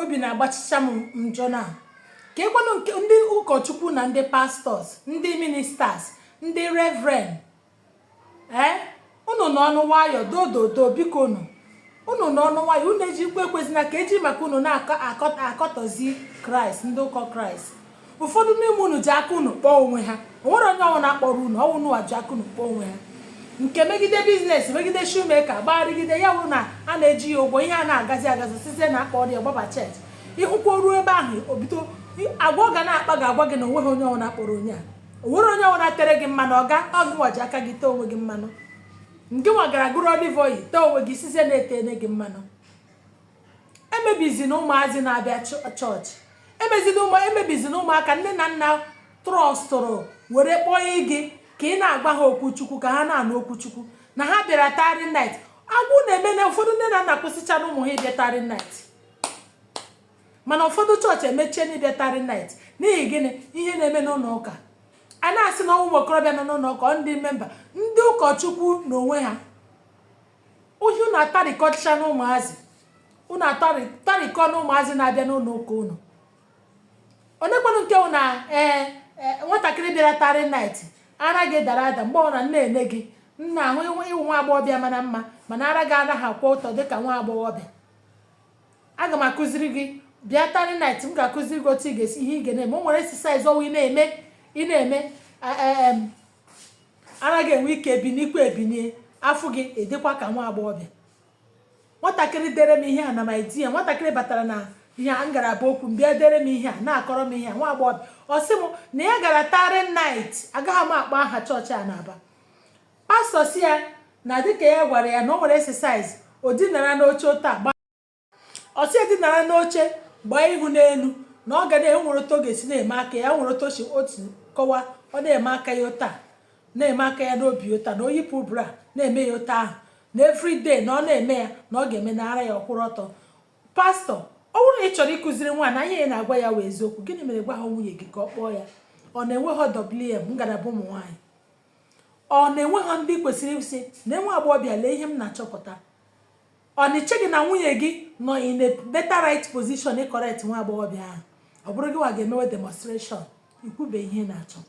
obi na-agbachicha m njọ na kekwanụ nke ndị ụkọchukwu na ndị pastors ndị ministers ndị reverend ee eh? unu nọọnụ nwayọ dododo biko unu unu nọọnụ nwayọ unu ejikwa ekwezina ka eji maka unu na-akọtọzi kraịst ndị ụkọ kraịst ụfọdụ n'ime unu ji aka unu kpọọ onwe ha onwere onye ọ wụna kpọrọ unu ọ wụ unu wa ji aka unu kpọọ onwe ha nke megide business megide shoemaker gbagharịgide ya wụ na a na-eji ya ụgwọ ihe a na-agazi agazi site na akpọ ya gbaba church ịhụkwa ruo ebe ahụ o bido agwa ọ ga na-akpa ga agwa gị na onweghị onye ọ wụna kpọrọ onye a onwere onye ọ wụna tere gị mmanụ ọga ọ gị nwa ji aka gị tee onwe gị mmanụ gị nwa gara gọrọ olive oil tee onwe gị sịzie na etene gị mmanụ emebizina ụmụazị na-abịa chọọchị emezina ụmụ emebizina ụmụaka nne na nna trọstụrụ were kpọọ gị ka ị na-agwa ha okwu chukwu ka ha na-anụ okwu chukwu na ha bịara tarry night agwa unu emeena ụfọdụ nne na nna akwụsịchana ụmụ ha ịbịa tarry night mana ụfọdụ chọọchị emechiena ịbịa tarry night n'ihi gịnị ihe na-eme n'ụlọ ụka a na-asị na ọ wụ ụmụ okorobịa nọ n'ụlọ ụka ndị memba ndị ụkọchukwu n'onwe ha ohi unu atarikọchana ụmụazị unu atarikọna ụmụazị na-abịa n'ụlọ ụka unu onekwanụ nke na ee e, nwatakịrị bịara tarry night ara gị dara ada mgbe ọ na m na-ene gị m na-ahụ ị wụ nwa agbọghọbịa mara mma mana ara gị anaghị akwụ ọtọ dịka nwa agbọghọbịa aga m akụziri gị bịa tarry night m ga-akụziri gị otu ị ga-esi ihe ị ga na-eme o nwere exercise ọ wụ ị na-eme ị na-eme e, e, ara gị enwe ike ibinikwa ebinie a fụ gị ị dịkwa ka nwa agbọghọbịa nwatakịrị dere m ihe a na my dear nwatakịrị batara na ihe a ngalaba okwu m bịa dere m ihe a na-akọrọ m ihe a nwa agbọghọbịa ọ sị m na ya gara tarry night agaghị m akpọ aha chọọchị a n'Aba pastor sị ya na dịka ya gwara ya na o nwere exercise o dinara n'oche otu agba ọ sị edinara n'oche gbaa ihu n'elu na ọ ga na enwere otu ọ ga-esi na-eme aka ya nwere otu o si otu kọwa ọ na-eme aka ya otu a na-eme aka ya n'obi otu a na o yipụ bra na-eme ya otu ahụ na everyday na ọ na-eme ya na ọ ga-eme na ara ya akwụrụ ọtọ pastor ọ bụrụ na ị chọrọ ịkụziri nwaanyị na ihe ị na-agwa ya wụ eziokwu gịnị mere ị gwaha nwunye gị ka ọ kpọọ ya ọ na enweha WM ngalaba ụmụ nwaanyị ọ na enweha ndị kwesịrị ịsị na nwa agbọghọbịa lee ihe m na-achọpụta Ọ na i cheghị na nwunye gị nọ in a better right position ịcorrect nwa agbọghọbịa ahụ ọ bụrụ gị nwa ga-emewe demonstration ikwube ihe na-achọ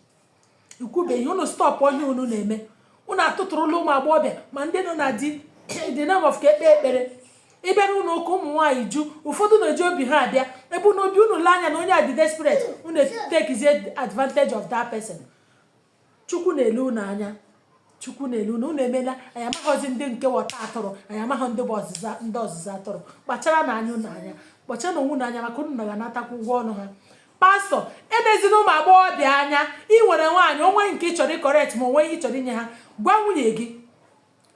ikwube ihe unu stọpụ ihe unu na-eme unu atụtụrụla ụmụ agbọghọbịa ma ndị nọ na di the name of ka e kpee ekpere ị bịa n'ụlọ ụka ụmụ nwaanyị ju ụfọdụ na-eji obi ha abịa ebe na obi unu lee anya na onye a dị desperate unu take advantage of that person chukwu na-ele unu anya chukwu na-ele unu unu emela anyị amaghọzi ndị nke wụ ọta atụrụ anyị amaghọ ndị bụ ọzụzụ ndị ọzụzụ atụrụ kpacharanụ anya unu anya kpacharanụ onwe unu anya maka unu ga-anatakwa ụgwọ ọnụ ha pastọ elezina ụmụ agbọghọbịa anya ị nwere nwaanyị o nwee nke ị chọrọ ịcorrect ma o nwee ihe ị chọrọ inye ha gwa nwunye gị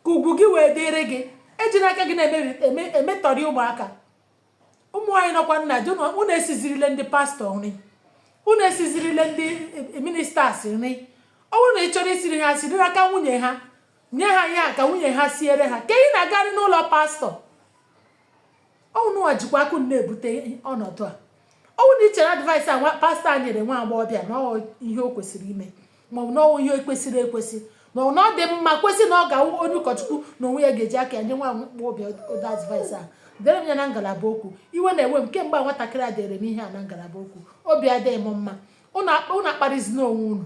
ka ugwu gị wee dịrị gị ejina aka gị na-emetọrị ụmụaka ụmụ nwaanyị nọkwanụ na di unu esizirile ndị pastọ nri unu esizirile ndị ministers nri ọ bụrụ na ị chọrọ isiri ha siri n'aka nwunye ha nye ha ya ka nwunye ha siere ha ka ị na-agarị n'ụlọ pastọ ọ wụ unu nwa jikwa aka unu na-ebute ọnọdụ a ọ bụrụ na i chere advice a pastọ a nyere nwa agbọghọbịa na ihe o kwesịrị ime maọbụ na ọ wụ ihe kwesịrị ekwesị maọbụ na ọ dị mma kwesị na ọ ga-awụ onye ụkọchukwu na onwe ya ga-eji aka ya nye nwa agbọghọbịa ụdị advice a dere m ya na ngalaba okwu iwe na-ewe m kemgbe a nwatakịrị a dere m ihe a na ngalaba okwu obi adịghị m mma unu akparịzina onwe unu